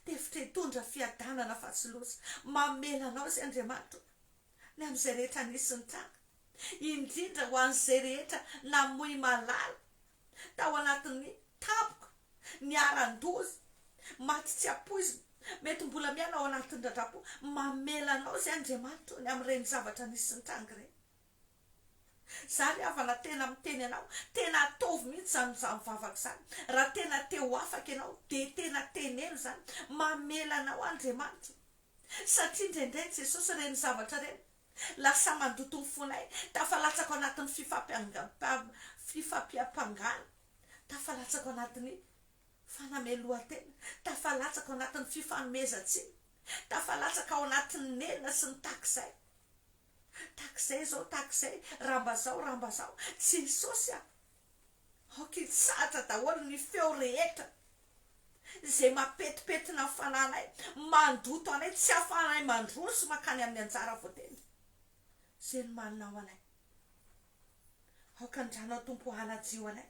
dia hevitra hitondra fiadanana fa tsy loza. Mamela anao izay Andriamanitra o. ny amin'izay rehetra nisy nitranga, indrindra ho an'izay rehetra namoy malala tao anatin'ny tampoka niharan-doza, maty tsy ampoizina, mety mbola miaina ao anatin'ny ratra-po, mamela anao izay Andriamanitra ô, ny amin'ireny zavatra nisy nitranga ireny. Izaho ry havana tena miteny anao, tena ataovy mihitsy izany mizaha mivavaka izany, raha tena te ho afaka ianao dia tena teneno izany, mamela anao Andriamanitra ô. Satria indraindray, Jesosy, ireny zavatra ireny lasa mandoto ny fonay, tafalatsaka ao anatin'ny fifampiangam-, fifampiampangana, tafalatsaka ao anatin'ny fanamelohan-tena, tafalatsaka ao anatin'ny fifanomezan-tsiny, tafalatsaka ao anatin'ny nenina sy ny tahaka izay. Tahaka izay izao, tahaka izay, raha mba izao, raha mba izao. Jesosy a! Aok'intsatra daholo ny feo rehetra izay mapetipetina ny fanahinay, mandoto anay, tsy ahafahanay mandroso sy mankany amin'ny anjara voatendry izay nomaninao anay. Aoka ny Ranao Tompo hanadio anay.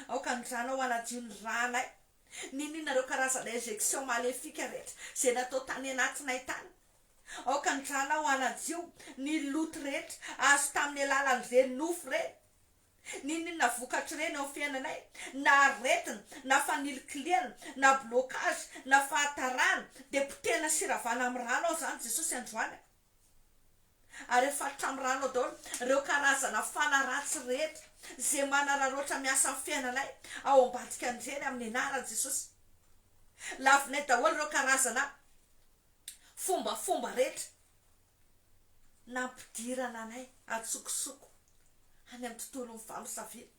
Aoka ny Ranao hanadio ny ranay, niniana ireo karazana injection maléfique rehetra izay natao tany anatinay tany. Aoka ny Ranao hanadio ny loto rehetra azo tamin'ny alalan'ireny nofo ireny. N'inon'inona vokatr'ireny eo amin'ny fiainanay, na aretina, na fanilikilihana, na blocage, na fahatarana, dia potehina sy ravana amin'ny rano ao izany Jesosy androany a! Ary afatotra amin'ny rano ao daholo ireo karazana fana ratsy rehetra izay manararaotra miasa amin'ny fiainanay ao ambadika an'ireny amin'ny anaran'i Jesosy. Lavinay daholo ireo karazana fombafomba rehetra. nampidirana anay an-tsokosoko any amin'ny tontolon'ny famosaviana.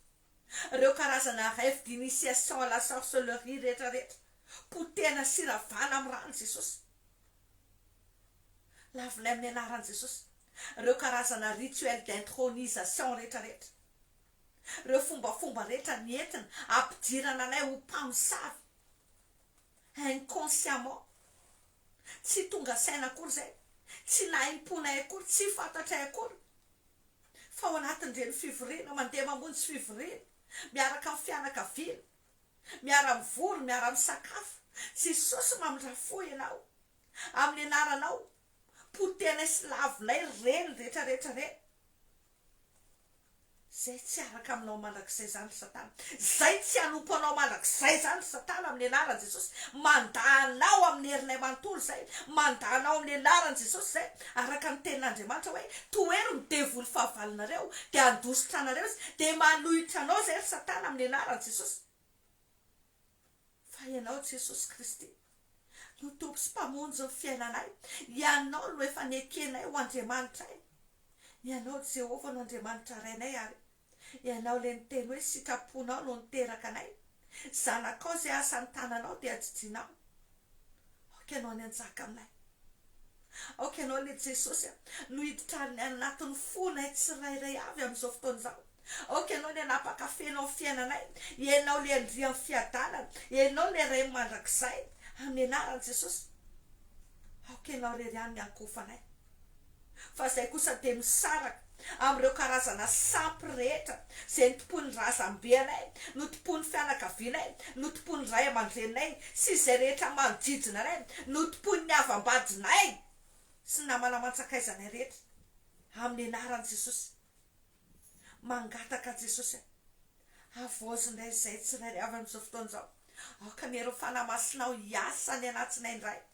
Ireo karazana rêve d'initiation à la sorcellerie rehetrarehetra potehina sy ravana amin'ny ran'i Jesosy. Lavinay amin'ny anaran'i Jesosy ireo karazana rituel d'intronisation rehetrarehetra, ireo fombafomba rehetra nentina hampidirana anay ho mpamosavy. inconsciemment, tsy tonga saina akory izay, tsy nahim-ponay akory, tsy fantatray akory fa ao anatin'ireny fivoriana, mandeha mamonjy fivoriana miaraka amin'ny fianakaviana, miara-mivory, miara-misakafo, Jesosy mamindrafo fo ianao, amin'ny anaranao, potehinay sy lavinay ireny rehetra rehetra ireny. Izay tsy hiaraka aminao mandrakizay izany ry Satana. Izay tsy hanompo anao mandrakizay izany ry Satana amin'ny anaran'i Jesosy. Mandà anao amin'ny herinay manontolo izay. Mandà anao amin'ny anaran'i Jesosy izay. Araka ny tenin'Andriamanitra hoe, Tohero ny devoly fahavalonareo, dia handositra anareo izy. Dia manohitra anao izay ry Satana amin'ny anaran'i Jesosy. Fa Ianao, Jesosy Kristy, no Tompo sy Mpamonjy ny fiainanay. Ianao no efa nekenay ho Andriamanitray. Ianao, Jehovah, no Andriamanitra Rainay, ary Ianao ilay niteny hoe, Sitraponao no niteraka anay. Zanakao izay asa ny tananao, dia ajijianao. Aoka ianao ny hanjaka aminay. Aoka ianao ilay Jesosy a, no hiditra any anatin'ny fonay tsirairay avy amin'izao fotoana izao. Aoka ianao ny hanapaka feno amin'ny fiainanay. Ianao ilay andrian'ny fiadanana. Ianao ilay Ray mandrakizay. Amin'ny anaran'i Jesosy. Aoka ianao irery ihany ny hankofa anay. fa izay kosa dia misaraka amin'ireo karazana sampy rehetra izay notompoin'ny razambenay, notompoin'ny fianakavianay, notompoin'ny ray aman-dreninay sy izay rehetra manodidina anay, notompoin'ny havam-badinay sy ny namana aman-tsakaizanay rehetra, amin'ny anaran'i Jesosy. Mangataka an'i Jesosy aho, havaozina izahay tsirairay avy amin'izao fotoana izao, aoka ny Herinao Fanahy Masinao hiasa any anatiny indray.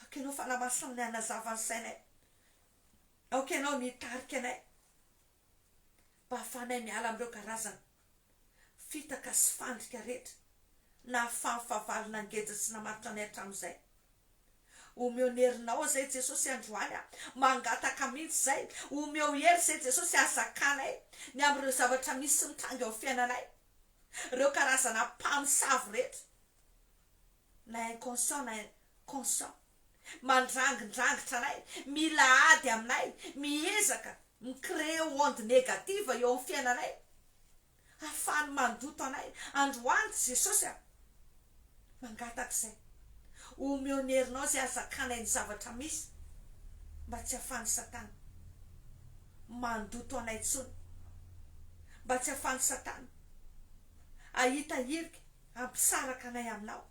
Aoka Ianao fanamasinanay hanazava ny sainay. Aoka Ianao ny hitarika anay mba hahafahanay miala amin'ireo karazana fitaka sy fandrika rehetra nahafahan'ny fahavalo nangeja sy namatotra anay hatramin'izay. Omeo ny herinao izay Jesosy androany aho mangataka mihitsy izay. Omeo hery izay Jesosy hazakanay ny amin'ireo zavatra misy mitranga eo amin'ny fiainanay, ireo karazana mpamosavy rehetra. na inconscient na conscient, mandrangindrangitra anay, mila ady aminay, miezaka mi-creer onde negative eo amin'ny fiainanay, ahafahany mandoto anay, androany Jesosy a! mangataka izay, omeo ny herinao izay ahazakanay ny zavatra misy, mba tsy ahafahan'i Satana mandoto anay intsony, mba tsy ahafahan'i Satana ahita hirika, Hampisaraka anay aminao.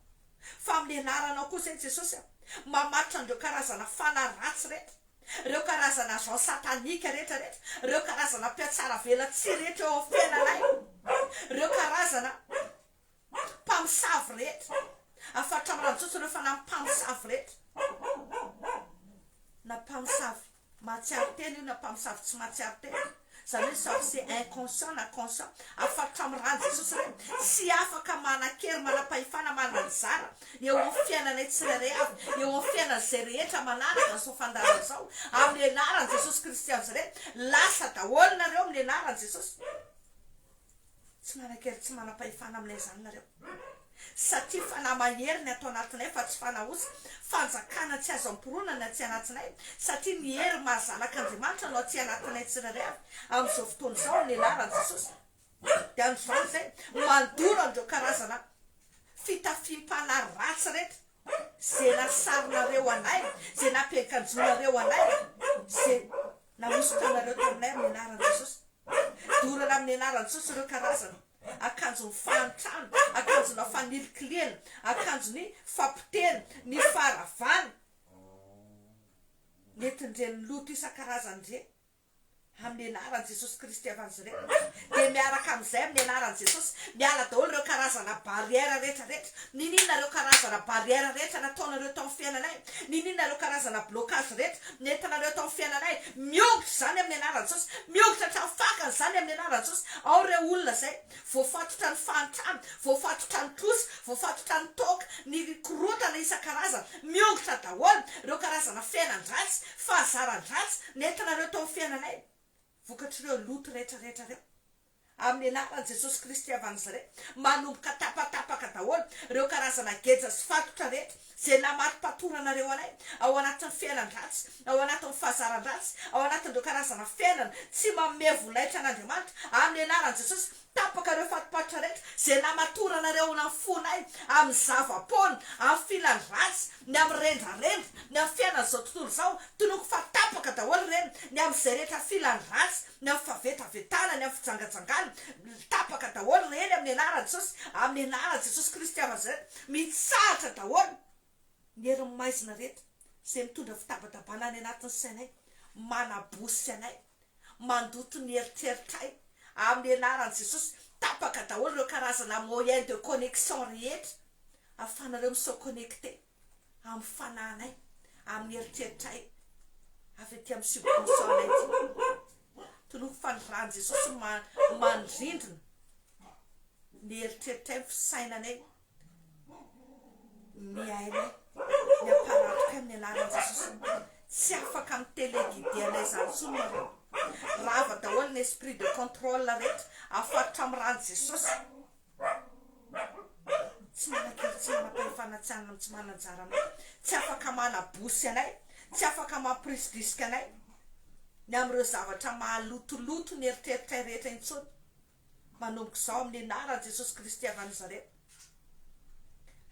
Fa amin'ny anaranao koa izay Jesosy a! Mamaritra an'ireo karazana fanahy ratsy rehetra, ireo karazana agent satanique rehetra rehetra, ireo karazana mpihatsaravelatsihy rehetra eo amin'ny fiainanay, ireo karazana mpamosavy rehetra, afaritra amin'ny rano tsotra ireo fanahy mpamosavy rehetra na mpamosavy. Mahatsiaro tena io na mpamosavy tsy mahatsiaro tena io, zany hoe soit c'est inconscient na conscient, afakotra amin'ny ran'i Jesosy re, tsy afaka manan-kery, manam-pahefana, mananjara eo amin'ny fiainanay tsirairay avy, eo amin'ny fiainan'izay rehetra manaraka izao fandaharana izao, amin'ny anaran'i Jesosy Kristy anjre, lasa daholo nareo amin'ny anaran'i Jesosy. Tsy manankery tsy manam-pahefana aminay izany nareo satria fanahy mahery ny ato anatinay fa tsy fanahy osa, fanjakana tsy azo amporonana tsy anatinay satria ny hery maha zanak' Andriamanitra no aty anatinay tsirairay avy amin'izao fotoana izao amin'ny anaran'i Jesosy dia androany izay mandoro an'ireo karazana fitafiam-panahy ratsy rehetra izay nasarinareo anay, izay nampiankanjoanareo anay, izay. Nahosotanareo taminay amin'ny anaran'i Jesosy. Dorana amin'ny anaran'i Jesosy ireo karazana akanjon'ny fahantrana, akanjona fanilikiliana, akanjon'ny fapotehana, ny faharavana nentin'ireny loto isan-karazany ireny. Amin'ny anaran'i Jesosy Kristy avy an'izy ireny. Dia miaraka amin'izay amin'ny anaran'i Jesosy, miala daholo ireo karazana barrière rehetra rehetra. Niniana ireo karazana barrière rehetra nataonareo tao amin'ny fiainanay. Niniana ireo karazana blocage rehetra nentinareo tao amin'ny fiainanay. Miongotra izany amin'ny anaran'i Jesosy. Miongotra hatramin'ny fakany izany amin'ny anaran'i Jesosy. Ao ireo olona izay voafatotra ny fahantrana, voafatotra ny trosa, voafatotra ny toaka, ny korontana isan-karazany. Miongotra daholo ireo karazana fiainan-dratsy, fahazaran-dratsy nentinareo tao amin'ny fiainanay. Vokatr'ireo loto rehetrarehetra ireo, amin'ny anaran'i Jesosy Kristy avy any Nazareta, manomboka tapatapaka daholo ireo karazana geja sy fatotra rehetra izay namarimpatoranareo anay ao anatin'ny fiainan-dratsy, ao anatin'ny fahazaran-dratsy, ao anatin'ireo karazana fiainana tsy manome volaitra an'Andriamanitra, amin'ny anaran'i Jesosy, Tapaka ireo fatipaitra rehetra izay namatoranareo ao anaty fonay amin'ny zava-poana, amin'ny filany ratsy, ny amin'ny rendrarendra, ny amin'ny fiainan'izao tontolo izao, tonoko fa tapaka daholo ireny, ny amin'izay rehetra filany ratsy, ny amin'ny favetavetana, ny amin'ny fijangajangana, tapaka daholo ireny amin'ny anaran'i Jesosy, amin'ny anaran'i Jesosy Kristy Nazareta, mitsahatra daholo. ny herin'ny maizina rehetra izay mitondra fitabatabana any anatin'ny sainay, manabosy anay, mandoto ny eritreritray, amin'ny anaran'i Jesosy, tapaka daholo ireo karazana moyen de connexion rehetra ahafahanareo mi se connecte amin'ny fanahinay, amin'ny eritreritray avy aty amin'ny subconscient anay ity, toloiko fa ny ran'i Jesosy ma-manindrindrina ny eritreritray, ny fisainanay, Miaina ny hamparantoka ny anaran'i Jesosy Tompo. Tsy afaka mi teleguider an'izany intsony ianao. Rava daholo ny esprit de contrôle rehetra afaritra amin'ny ran'i Jesosy. Tsy manan-kery, tsy manam-pahefana, tsy anana, tsy manan-jara aminay, tsy afaka manabosy anay, tsy afaka mampirisdrisika anay ny amin'ireo zavatra mahalotoloto ny eritreritray rehetra intsony. Manomboka izao amin'ny anaran'i Jesosy Kristy avy Nazareth.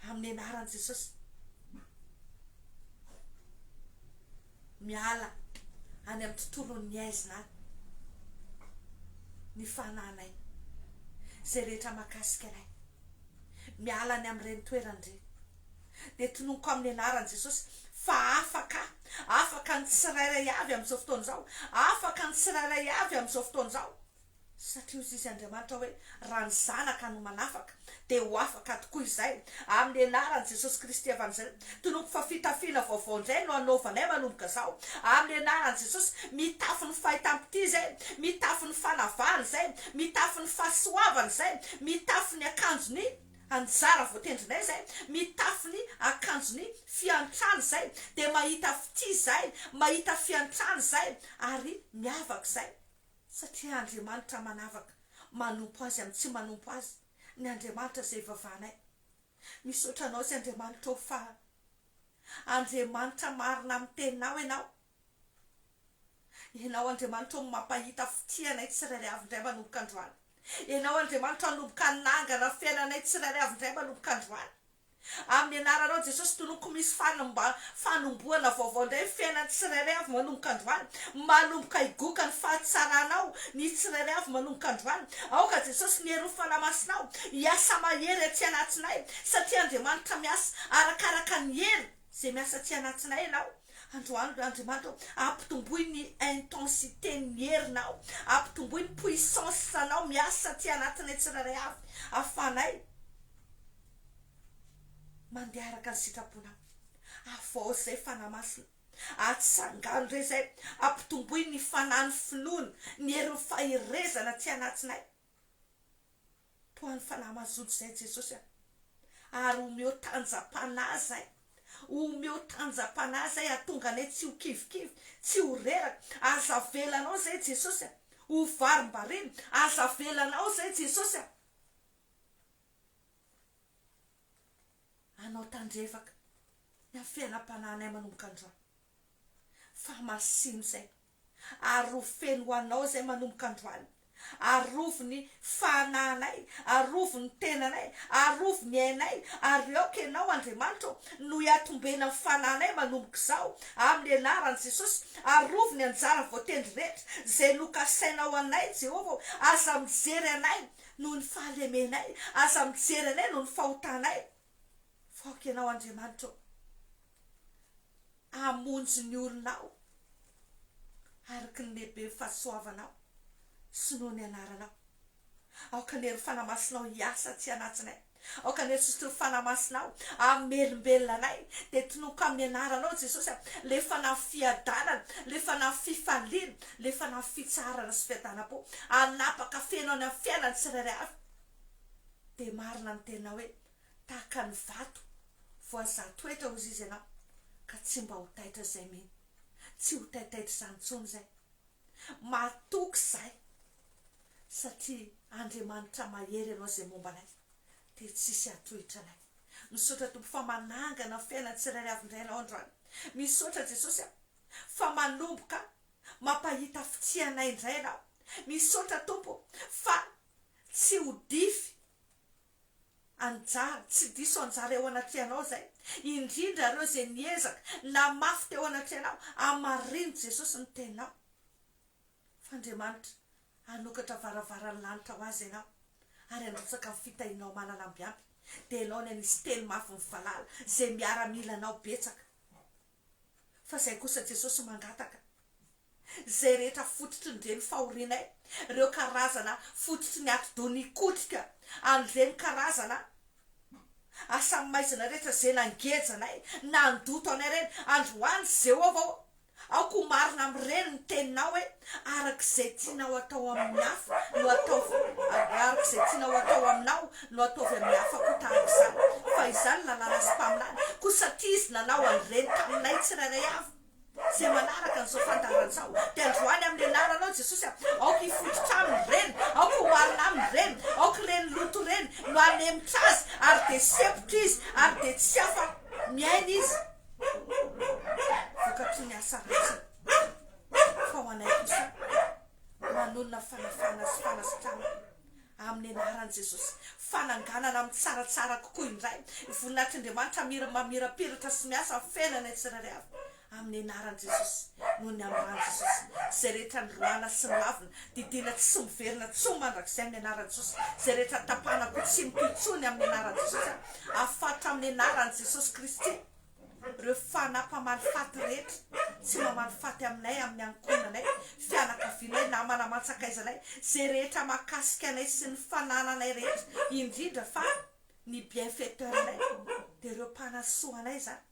Amin'ny anaran'i Jesosy. Miala any amin'ny tontolon'ny aizina any. Ny fanahinay. Izay rehetra mahakasika anay. Miala any amin'ireny toerana ireny. Dia tononiko amin'ny anaran'i Jesosy fa afaka, afaka ny tsirairay avy amin'izao fotoana izao, afaka ny tsirairay avy amin'izao fotoana izao. Satria hoy Izy, Andriamanitra, hoe, Raha ny Zanaka no manafaka, dia ho afaka tokoa izay. Amin'ny Anaran'i Jesosy Kristy Evanjely, Tonompo, fa fitafiana vaovao indray no anaovanay manomboka izao, amin'ny Anaran'i Jesosy, mitafy ny fahitam-pitia izay, mitafy ny fanavahana izay, mitafy ny fahasoavana izay, mitafy ny akanjon'ny anjara voatendrinay izay, mitafy ny akanjon'ny fiantrana izay, dia mahita fitia izay, mahita fiantrana izay, ary miavaka izay. Satria Andriamanitra manavaka manompo Azy amin'ny tsy manompo Azy ny Andriamanitra izay ivavahanay. Misaotra Anao Ry Andriamanitra ô fa Andriamanitra marina amin'ny teninao Ianao. Ianao Andriamanitra ô no mampahita fitia anay tsirairay avy indray manomboka androany. Ianao Andriamanitra hanomboka hanangana fiainanay tsirairay avy indray manomboka androany. Amin'ny anaranao Jesosy toloko misy fanomba fanombohana vaovao indray ny fiainan'ny tsirairay avy manomboka androany malomboka higoka ny fahatsaranao ny tsirairay avy manomboka androany aoka Jesosy ny herin'ny fanamasinao hiasa mahery aty anatinay satria Andriamanitra miasa arakaraka ny hery izay miasa aty anatinay ianao androany ry Andriamanitra ô ampitomboy ny intensité ny herinao ampitomboy ny puissance anao miasa aty anatinay tsirairay avy ahafahanay Mandeha araka ny sitraponao. Avaozy izay fanahy masina. Atsangano re izay. Ampitomboy ny fanahy, ny finoana, ny herin'ny faherezana aty anatinay. Toa ny fanahy mazoto izay Jesosy a. Ary omeo tanjam-panahy izay. Omeo tanjam-panahy izay hahatonga anay tsy ho kivikivy, tsy ho reraka. Aza avelanao izay Jesosy a. Ho varimbariana. Aza avelanao izay Jesosy a. Anao tandrevaka ny amin'ny fiainam-panahinay manomboka androany, fa masino izay, ary ho feno ho Anao izay manomboka androany, arovy ny fanahinay, arovy ny tenanay, arovy ny ainay, ary aoka Ianao Andriamanitra ô, no hiatombena ny fanahinay manomboka izao, amin'ny anaran'i Jesosy, arovy ny anjara voatendry rehetra izay nokasainao anay Jehovah ô, aza mijery anay noho ny fahalemenay, aza mijery anay noho ny fahotanay, fa aoka Ianao, Andriamanitra ô, hamonjy ny olonao araka ny lehiben'ny fahasoavanao sy noho ny anaranao. Aoka ny hery fanamasinao hiasa atsy anatsinay, Aoka ny antsotsotra fanamasinao amin'ny melombelona anay dia tonoko amin'ny anaranao Jesosy a, le fanahy fiadanana, le fanahy fifaliana, le fanahy fitsaharana sy fiadanam-po hanapaka feno any amin'ny fiainan'ny tsirairay avy. Dia marina ny teninao hoe tahaka ny vato voazaha toetra hozy izy ianao ka tsy mba ho taitra izay mino, tsy ho taitaitra izany intsony izay matoky izay. satria Andriamanitra mahery ianao izay momba anay dia tsisy hatohitra anay misaotra Tompo fa manangana ny fiainan'ny tsirairay avy indray ianao androany misaotra Jesosy a fa manomboka mampahita fitia anay indray ianao misaotra Tompo fa tsy ho dify anjara tsy diso anjara eo anatrehanao izay indrindra ireo izay niezaka namafy teo anatrehanao hamarino Jesosy ny teninao F'Andriamanitra hanokatra varavaran'ny lanitra ho azy ianao, ary handrotsaka ny fitahianao malala mby ampy, dia ianao ny hanisy teny mafy mivalala izay miaramila anao betsaka. Fa izay kosa Jesosy mangataka, izay rehetra fototry ny reny fahorianay, ireo karazana fototry ny atidoha nikotrika, an'ireny karazana asa maizina rehetra izay nangeja anay, nandoto anay ireny, androany Jehovah ô, Aoka ho marina amin'ireny ny teninao hoe, Araka izay tianao hatao amin'ny hafa no ataovy, araka izay tianao hatao aminao no ataovy amin'ny hafa koa tahaka izany, fa izany lalàna sy mpaminany, koa satria Izy nanao an'ireny taminay tsirairay avy izay manaraka an'izao fandaharana izao, dia androany amin'ny anaranao Jesosy a, aoka hifototra aminy ireny, aoka ho marina aminy ireny, aoka ireny loto ireny no hanemotra azy ary dia sempotra izy ary dia tsy hafa miaina izy. vokatry ny asa ratsiny, fa ho anay kosa manonona fanafahana sy fanasitranana amin'ny anaran'i Jesosy, fananganana amin'ny tsaratsara kokoa indray ny voninahitr'Andriamanitra mira mamirapiratra sy miasa amin'ny fiainanay tsirairay avy amin'ny anaran'i Jesosy, noho ny ambany Jesosy, izay rehetra niroahana sy nilavina Didiana tsy miverina intsony mandrakizay amin'ny anaran'i Jesosy. Izay rehetra tapahana koa tsy mitohy intsony amin'ny anaran'i Jesosy aho. Afatotra amin'ny anaran'i Jesosy Kristy ireo fanahy mpamaly faty rehetra tsy mamaly faty aminay, amin'ny ankohonanay, fianakavianay, namana aman-tsakaizanay, izay rehetra mahakasika anay sy ny fanananay rehetra, indrindra fa ny bienfaiteur-nay dia ireo mpanasoa anay izany,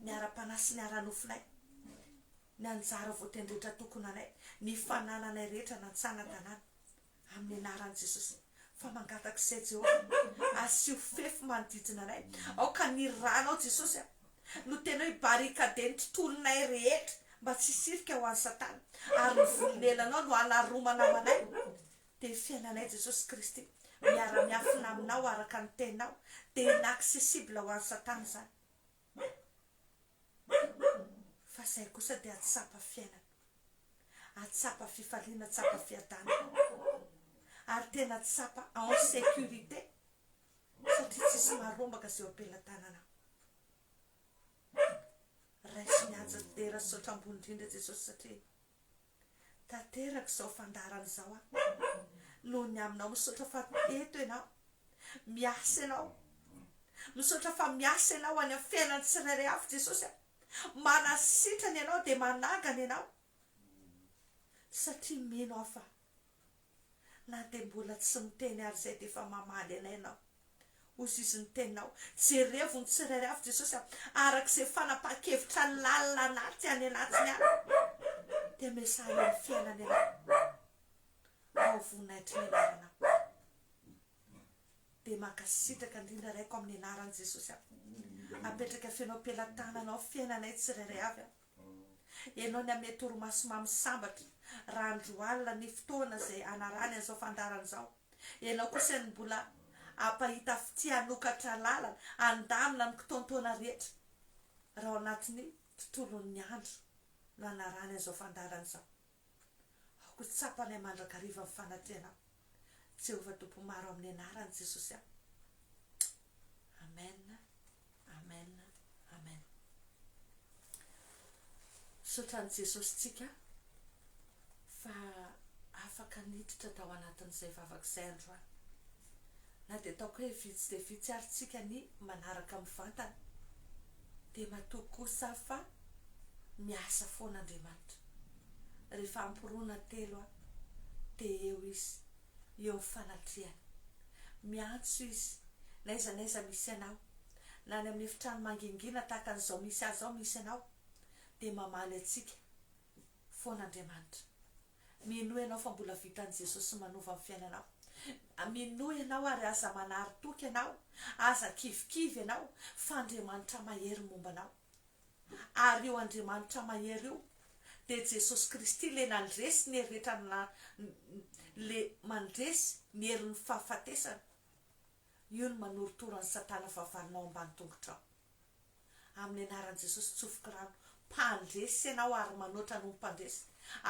ny ara-panahy sy ny ara-nofonay. Ny anjara voatean'ny rehetra tokonanay, ny fanananay rehetra na an-tsana-tanàna, amin'ny anaran'i Jesosy, fa mangataka izay Jehovah, asio fefy manodidina anay, aoka ny Ranao Jesosy a, no tianao hibarikader ny tontolonay rehetra mba tsy hisirika ho an'i Satana, ary ny volonelanao no hanaromana ho anay, dia ny fiainanay Jesosy Kristy, miara-miafina Aminao araka ny Teninao, dia inaccessible ho an'i Satana izany. Fa izay kosa dia hahatsapa fiainana, hahatsapa fifaliana, hahatsapa fiadanana, ary tena hahatsapa en sécurité satria tsisy maharombaka izay eo am-pelatananao. Raiso mihaja, dera sy saotra ambony indrindra Jesosy satria Tanteraka izao fandaharana izao aho noho ny aminao. Misaotra fa eto ianao. Miasa ianao. Misaotra fa miasa ianao any amin'ny fiainan'ny tsirairay avy Jesosy a. Manasitrana ianao dia manangana ianao satria mino aho fa na dia mbola tsy miteny ary izay dia efa mamaly anay ianao. Hoy sisa ny teninao. Jerevo ny tsirairay avy, Jesosy a, araka izay fanapahan-kevitra lalina anaty any anatiny any. Dia miasahy amin'ny fiainany ianao. Ao voninahitry ny anaranao. Dia mankasitraka indrindra Raiko amin'ny anaran'i Jesosy aho. Apetraka feno am-pelatananao fiainanay tsirairay avy aho. Ianao ny hame torimaso mamy sambatra, raha andro alina ny fotoana izay anarany an'izao fandaharana izao. Ianao kosa ny mbola hampahita fitia hanokatra lalana, handamina ny kitontoana rehetra, raha ao anatin'ny tontolon'ny andro no anarany an'izao fandaharana izao. Aoka ho tsapanay mandrakariva ny fanatrehanao, Jehovah Tompo Maro amin'ny anaran'i Jesosy aho. Amen, Amen, Amen. Misaotra an'i Jesosy tsika fa afaka niditra tao anatin'izay vavaka izay androany. Na dia ataoko hoe vitsy dia vitsy ary tsika ny manaraka mivantana dia matoa kosa fa miasa foana Andriamanitra. Rehefa amporoana telo aho dia eo Izy eo amin'ny fanatrehana. Miantso Izy n'aiza n'aiza misy anao. Na any amin'ny efitrano mangingina tahaka an'izao misy ahy izao misy anao dia mamaly antsika foana Andriamanitra. Minoa ianao fa mbola vitan'i Jesosy manova ny fiainanao. Minoa ianao ary aza manary toky ianao, aza kivikivy ianao fa Andriamanitra mahery momba anao. Ary io Andriamanitra mahery io dia Jesosy Kristy ilay nandresy ny hery rehetra ilay mandresy ny herin'ny fahafatesana. Io no manorotoro an'i Satana fahavalonao ambany tongotrao. Amin'ny anaran'i Jesosy tsofoky rano mpandresy ianao ary manoatra anao mpandresy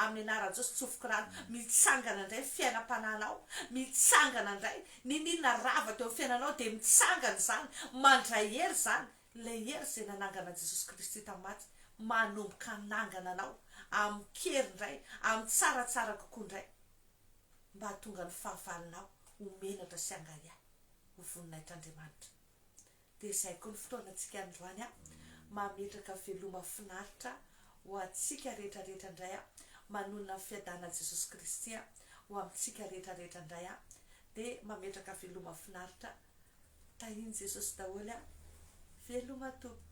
Amin'ny anaran'i Jesosy tsofoky rano mitsangana indray ny fiainam-panahinao mitsangana indray N'inon'inona rava teo amin'ny fiainanao dia mitsangana izany mandray hery izany Ilay hery izay nanangana an'i Jesosy Kristy tamin'ny maty manomboka hanangana anao amin-kery indray amin'ny tsara tsara kokoa indray mba hahatonga ny fahavalonao ho menatra sy hangahiahy ho voninahitr'Andriamanitra Dia izay koa ny fotoanantsika androany a! Mametraka veloma finaritra ho antsika rehetra rehetra indray a! Manonona ny fiadanan'i Jesosy Kristy a! ho amintsika rehetra rehetra indray a! Dia mametraka veloma finaritra Tahin'i Jesosy daholo a! Veloma tompoko.